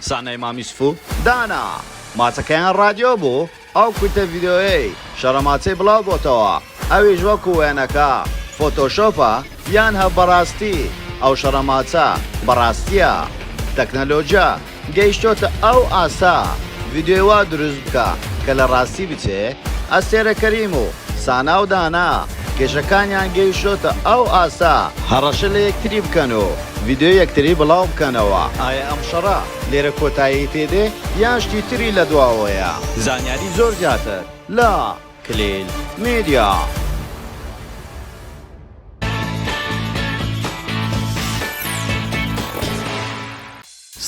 سانای مامیس فو دانا ماچەکەیان ڕادیۆ بوو ئەو کورتە ڤیدیۆیەی شەڕە ماچەی بڵاو بۆتەوە ئەویش وەکو وێنەکە فۆتۆشۆپە یان هە بەڕاستی ئەو شەڕە ماچە بەڕاستیە تەکنەلۆجیا گەیشتۆتە ئەو ئاستە ڤیدیۆی وا دروست بکە کە لە ڕاستی بچێ ئەستێرە کەریم و سانا و دانا کێشەکانیان گەیشۆتە ئەو ئاستە هەڕەشە لە یەکتری بکەن و ڤیدیۆیەک تری بڵاو بکەنەوە. ئایە ئەم شەڕە لێرە کۆتایی پێ دێ یان شتی تری لە دواوەیە؟ زانیاری زۆر زیاتر لە، کلیل میدیا.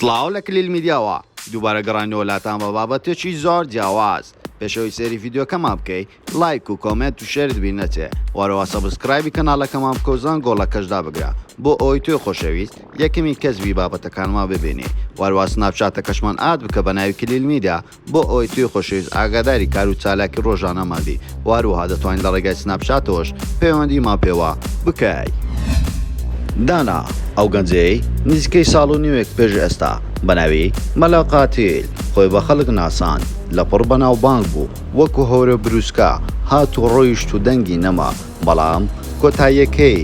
سڵاو لە کلیل میدیاوە دووبارە گەڕاینەوە لاتان بە بابەتێکی زۆر جیاواز پێش ئەوەی سەیری ڤیدیۆکەمان بکەی لایک و کۆمێنت و شێرت بیر نەچێ وەرەوە سەبسکرایبی کەناڵەکەمان بکە و زەنگۆڵەکەش دابگرە بۆ ئەوەی تۆی خۆشەویست یەکەمین کەس بی بابەتەکانمان ببینی وەروا سناپچاتەکەشمان ئاد بکە بە ناوی کلیل میدیا بۆ ئەوەی توی خۆشەویست ئاگاداری کار و چالاکی ڕۆژانەمان بی وەروەها دەتوانی لە ڕێگای سناپچاتەوەش پەیوەندیمان پێوە بکەی. دانا، ئەو گەنجەی نزیکەی ساڵ و نیوێک پێش ئێستا بە ناوی، مەلا قاتیل، خۆی بە خەڵک ناساند، لەپڕ بەناوبانگ بوو، وەکو هۆرە بروسکە هات و ڕۆیشت و دەنگی نەما بەڵام کۆتاییەکەی.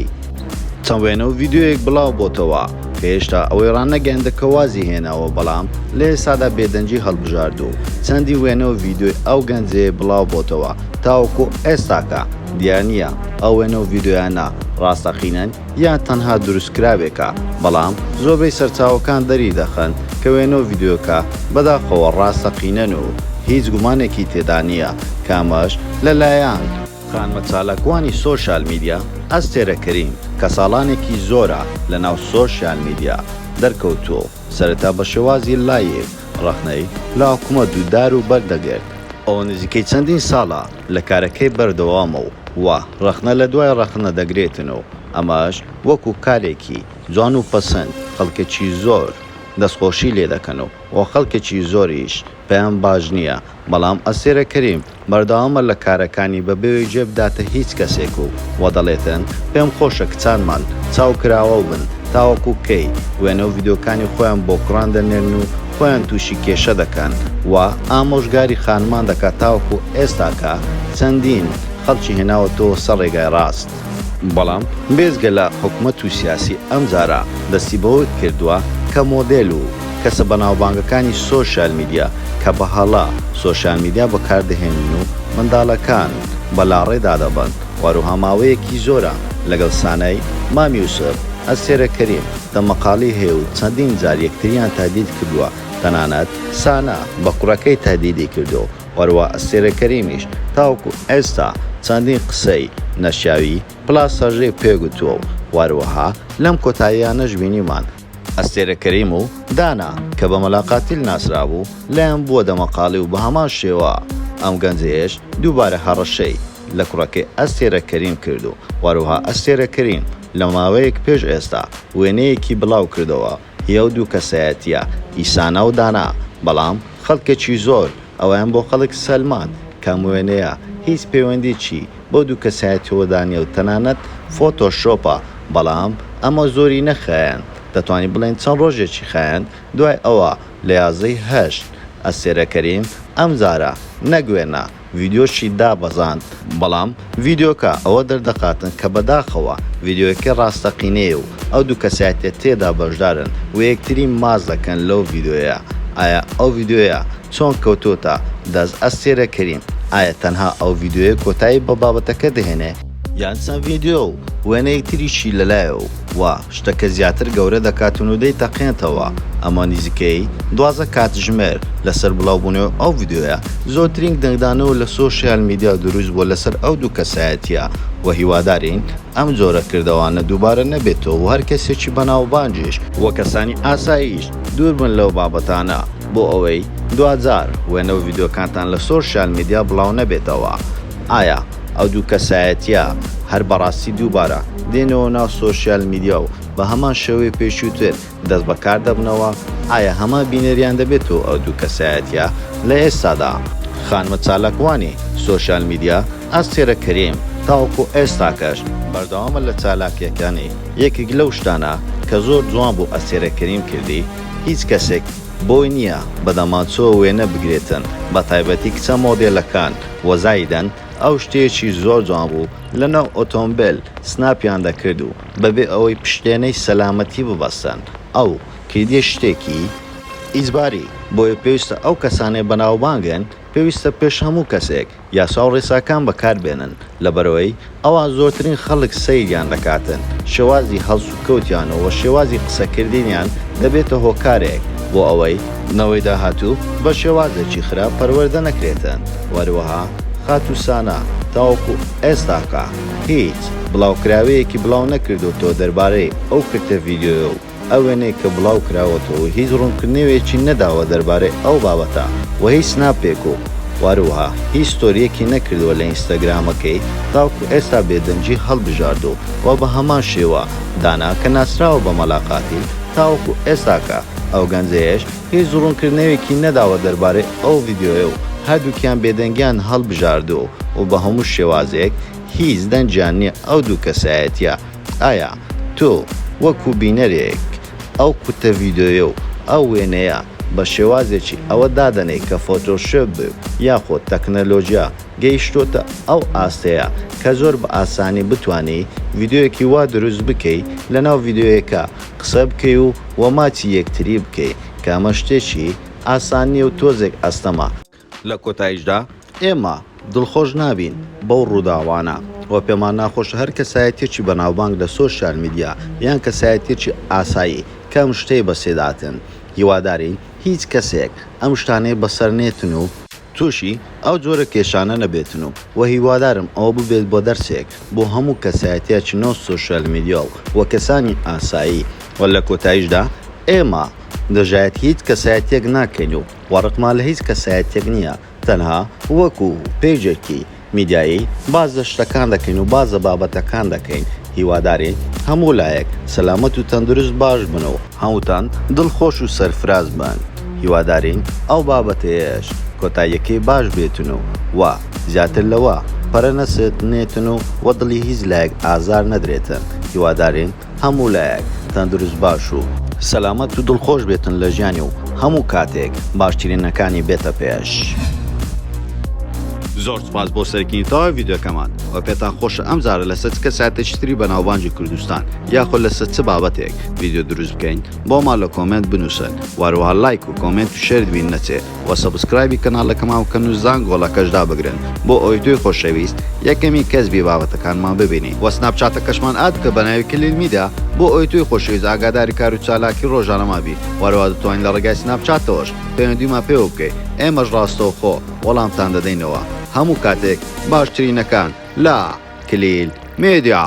چەند وێنە و ڤیدیۆیەک بڵاو بۆتەوە کە هێشتا ئەوەی ڕانەگەیاندە کە وازی هێناوە بەڵام لە ئێستادا بێدەنگی هەڵبژاردوو چەندین وێنە و ڤیدیۆی ئەو گەنجەی بڵاو بۆتەوە تاوەکو ئێستاکە دیار نیە ئەو وێنە و ڤیدیۆیانە ڕاستەقینەن یان تەنها دروستکراوێکە، بەڵام زۆربەی سەرچاوەکان دەریدەخەن کە وێنە و ڤیدیۆکە بەداخەوە ڕاستەقینەن و هیچ گومانێکی تێدا نییە کە ئەمەش لەلایەن، خانمە چالاکوانی سۆشیال میدیا، ئەستێرە کەریم، کە ساڵانێکی زۆرە لەناو سۆشیال میدیا، دەرکەوتووە و سەرەتا بە شێوازی لایڤ ڕەخنەی لە حکومەت و دار و بەرد دەگرت، ئەوە نزیکەی چەندین ساڵە لە کارەکەی بەردەوامە و ڕەخنە لە دوای ڕەخنە دەگرێتن و ئەمەش وەکو کارێکی جوان و پەسند خەڵکەکی زۆر دەستخۆشی لێ دەکەن و بۆ خەڵکەکی زۆریش پێیان باش نیە بەڵام ئەستێرە کەریم بەردەوامە لە کارەکانی بە بێوەی جێ بداتە هیچ کەسێک و وە دەڵێتن پێم خۆشە کچانمان چاو کراوەو بن تاوەکو کەی وێنەو ڤیدۆکانی خۆیان بۆ کوڕان دەنێرن و خۆیان توشی کێشە دەکەن و ئامۆژگاری خانمان دەکات تاوەکو ئێستا کە چەندین خەڵکی هێناوەتەوە سەر ڕێگای ڕاست. بەڵام بێجگە لە حکومەت و سیاسی ئەمجارە دەستی بەوە کردوە کە مۆدێل و کەسە بەناوبانگەکانی سۆشیال میدیا کە بە هەڵە سۆشیال میدیا بەکار دەهێنن و منداڵەکان بە لاڕێ دادەبەن و هەروەها ماوەیەکی زۆرە لەگەڵ سانای مام یوسف، ئەستێرە کەریم، دەمەقاڵی هەیە و چەندین جار یەکتریان تەهدید کردووە، تەنانەت سانا بە کوڕەکەی تەهدیدی کردووە و هەروا ئەستێرە کەریمیش تاوەکو ئێستا چەندین قسەی نەشیاوی پلاس هەژێ پێ گوتووە و هەروەها لەم کۆتاییانەش بینیمان ئەستێرە کەریم و دانا کە بە مەلا قاتیل ناسرابوو لایان بووە دەمەقاڵی و بە هەمان شێوە ئەم گەنجەیەش دووبارە هەڕەشەی. لە کوڕەکەی ئەستێرە کەریم کرد و هەروەها ئەستێرە کەریم لە ماوەیەک پێش ئێستا وێنەیەکی بڵاو کردەوە هی ئەو دوو کەسایەتییە ئیسانا و دانا بەڵام خەڵکێکی زۆر ئەوەیان بۆ خەڵک سەلماند کە ئەم وێنەیە هیچ پەیوەندیی بەو دوو کەسایەتیەوەدا نیە و تەنانەت فۆتۆ شۆپە بەڵام ئەمە زۆری نەخایاند دەتوانین بڵێین چەند ڕۆژێکی خایاند دوای ئەوە لە یازدە ی هەشت ئەستێرە کەریم ئەم جارە نەک وێنە ڤیدیۆشی دابەزاند بەڵام ڤیدیۆکە ئەوە دەردەخاتن کە بەداخەوە ڤیدیۆیەکە ڕاستەقینەیە و ئەو دوو کەسایەتیە تێدا بەشدارن و یەکتری ماچ دەکەن لەو ڤیدیۆیە ئایا ئەو ڤیدیۆیە چۆن کەوتۆتە دەست ئەستێرە کەریم ئایا تەنها ئەو ڤیدیۆیە کۆتایی بە بابەتەکە دەهێنێ یان چەند ڤیدیۆ و وێنەیەک تریشی لەلایەو وا شتەکە زیاتر گەورە دەکاتن و دەیتەقێنتەوە ئەمە نیزیکەی دوازە کاتژمێر لەسەر بڵاو بونەوەی ئەو ڤیدیۆیە زۆرترین دەنگدانەوە لە سۆشیال میدیا دروست بوە لەسەر ئەو دوو کەسایەتیە وە هیوادارین ئەم جۆرە کردەوانە دوبارە نەبێتەوە و هەر کەسێکی بەناوبانگیش و کەسانی ئاساییش دور بن لەو بابەتانە بۆ ئەوەی دواجار وێنە و ڤیدیۆکانتان لە سۆشیال میدیا بڵاو نەبێتەوە ئایا ئەو دوو کەسایەتیە هەر بەڕاستی دووبارە دێنەوە ناو سۆشیال میدیا و بە هەمان شێوەی پێشووتر دەست بە کار دەبنەوە، ئایا هەمان بینەریان دەبێتەوە ئەو دوو کەسایەتیە لە ئێستادا؟ خانمە چالاکوانی سۆشیال میدیا ئەستێرە کەریم تاوەکو ئێستاکەش بەردەوامە لە چالاکیەکانی، یەکێک لەو شتانە کە زۆر جوان بوو ئەستێرە کەریم کردی هیچ کەسێک بۆی نیە بە دەمانچەوە وێنە بگرێتن بە تایبەتی کچە مۆدێلەکان، وە زایدەن ئەو شتێکی زۆر جوان بوو لەناو ئۆتۆمبێل سناپیان دەکرد و بەبێ ئەوەی پشتێنەی سەلامەتی ببەستن ئەو کیدی شتێکی ئیجباری بۆیە پێویستە ئەو کەسانەی بەناوبانگن پێویستە پێش هەموو کەسێک یاساو ڕێساکان بەکاربێنن لەبەرئەوەی ئەوا زۆرترین خەڵک سەیریان دەکاتن، شێوازی هەڵسوکەوتیان و و شێوازی قسەکردنیان دەبێتە هۆکارێک بۆ ئەوەی، نەوەی داهاتوو بە شێوازێکی خراپ پەروەردە نەکرێتن و هەروەها خاتوو سانا تاوەکو ئێستاکە هیچ بڵاوکراوەیەکی بڵاو نەکردۆتەوە دەربارەی ئەو کرتە ڤیدیۆیە و ئەو وێنەی کە بڵاو کراوەتەوە هیچ ڕوونکردنەوێکی نەداوە دەربارەی ئەو بابەتە و هیچ سناپێک و واروها هیچ ستۆریەکی نەکردوە لە ئینستاگرامەکەی تاوکو ئێستا بێدەنگی هەڵبژاردو و بە هەمان شێوە دانا کە ناسراوە بە مەلا قاتیل تاوەکو ئێستاکە ئەو گەنجەیەش هیچ ڕوونکردنەوێکی نەداوە دەربارەی ئەو ڤیدیۆیە و هەردوکیان بێدەنگیان هەڵبژاردو و بە هەموو شێوازێک هیچ دەنگیان نیە ئەو دوو کەسایەتیە ئایا تۆ وەکو بینەرێک ئەو قوتە ڤیدۆیە و ئەو وێنەیە بە شێوازێکی ئەوە دادەنێی کە فۆتۆشۆپ و یاخۆ تەکنەلۆجیا گەیشتۆتە ئەو ئاستەیە کە زۆر بە ئاسانی بتوانی ڤیدۆیەکی وا دروست بکەی لەناو ڤیدۆیەکە قسە بکەی و وە ماچی یەکتری بکەی کە ئەمە شتێکی ئاسان نیە و تۆزێک ئەستەمە لە کۆتاییشدا ئێمە دڵخۆش نابین بەو ڕووداوانە و پێمان ناخۆشە هەر کەسایەتیەکی بەناوبانگ لە سۆشیال میدیا یان کەسایەتیەکی ئاسایی کە ئەم شتەی بەسێداتن هیوادارین هیچ کەسێک ئەم شتانەی بەسەر نێتن و توشی ئەو جۆرە کێشانە نەبێتن و وە هیوادارم ئەوە ببێت بۆ دەرسێک بۆ هەموو کەسایەتیەکی ناو سۆشیال میدیا و وە کەسانی ئاسایی و لە کۆتاییشدا ئێمە دژایەتی هیچ کەسایەتیەک ناکەین و و ڕقمان لە هیچ کەسایەتیەک نیە تەنها وەکو پەیجێکی میدیایی باس لە شتەکان دەکەین و باس لە بابەتەکان دەکەین هیوادارین هەموو لایەک سەلامەت و تەندروست باش بن و هەمووتان دڵ خۆش و سەرفراز بن هیوادارین ئەو بابەتەیەش کۆتاییەکەی باش بێتن و وە زیاتر لەوە پەرە نەسەتنێتن و وە دڵی هیچ لایەک ئازار نەدرێتن هیوادارین هەموو لایەک تەندروست باش و سەلامەت و دڵخۆش بێتن لە ژیانی و هەموو کاتێک باشترینەکانی بێتە پێش. زۆر سوپاس بۆ سەرکردنی تەواوی ڤیدیۆکەمان وە پێتان خۆشە ئەمجارە لەسەر چ کەسایەتێکی تری بەناوبانگی کوردستان یاخۆ لەسەر چ بابەتێک ڤیدیۆ دروست بکەین بۆمان لە کۆمێنت بنووسن وە هەروەها لایک و کۆمێنت و شێرت بیر نەچێ وە سەبسکرایبی کەناڵەکەمان بکەن و زانگۆڵەکەش دابگرن بۆ ئەوەی تۆی خۆشەویست یەکەمین کەس بی بابەتەکانمان ببینی وە سناپچاتەکەشمان ئاد بکە بەناوی کلیل میدیا بۆ ئەوەی تۆی خۆشەویست ئاگاداری کارو چالاکی ڕۆژانەمان بی وە هەروە دەتوانی لە ڕێگای سناپچاتەوەش پەیوەندیمان پێوە بکەی ئێمەش ڕاستەوخۆ وەڵامتان دەدەینەوە هەموو کاتێک باشترینەکان لە کلیل میدیا.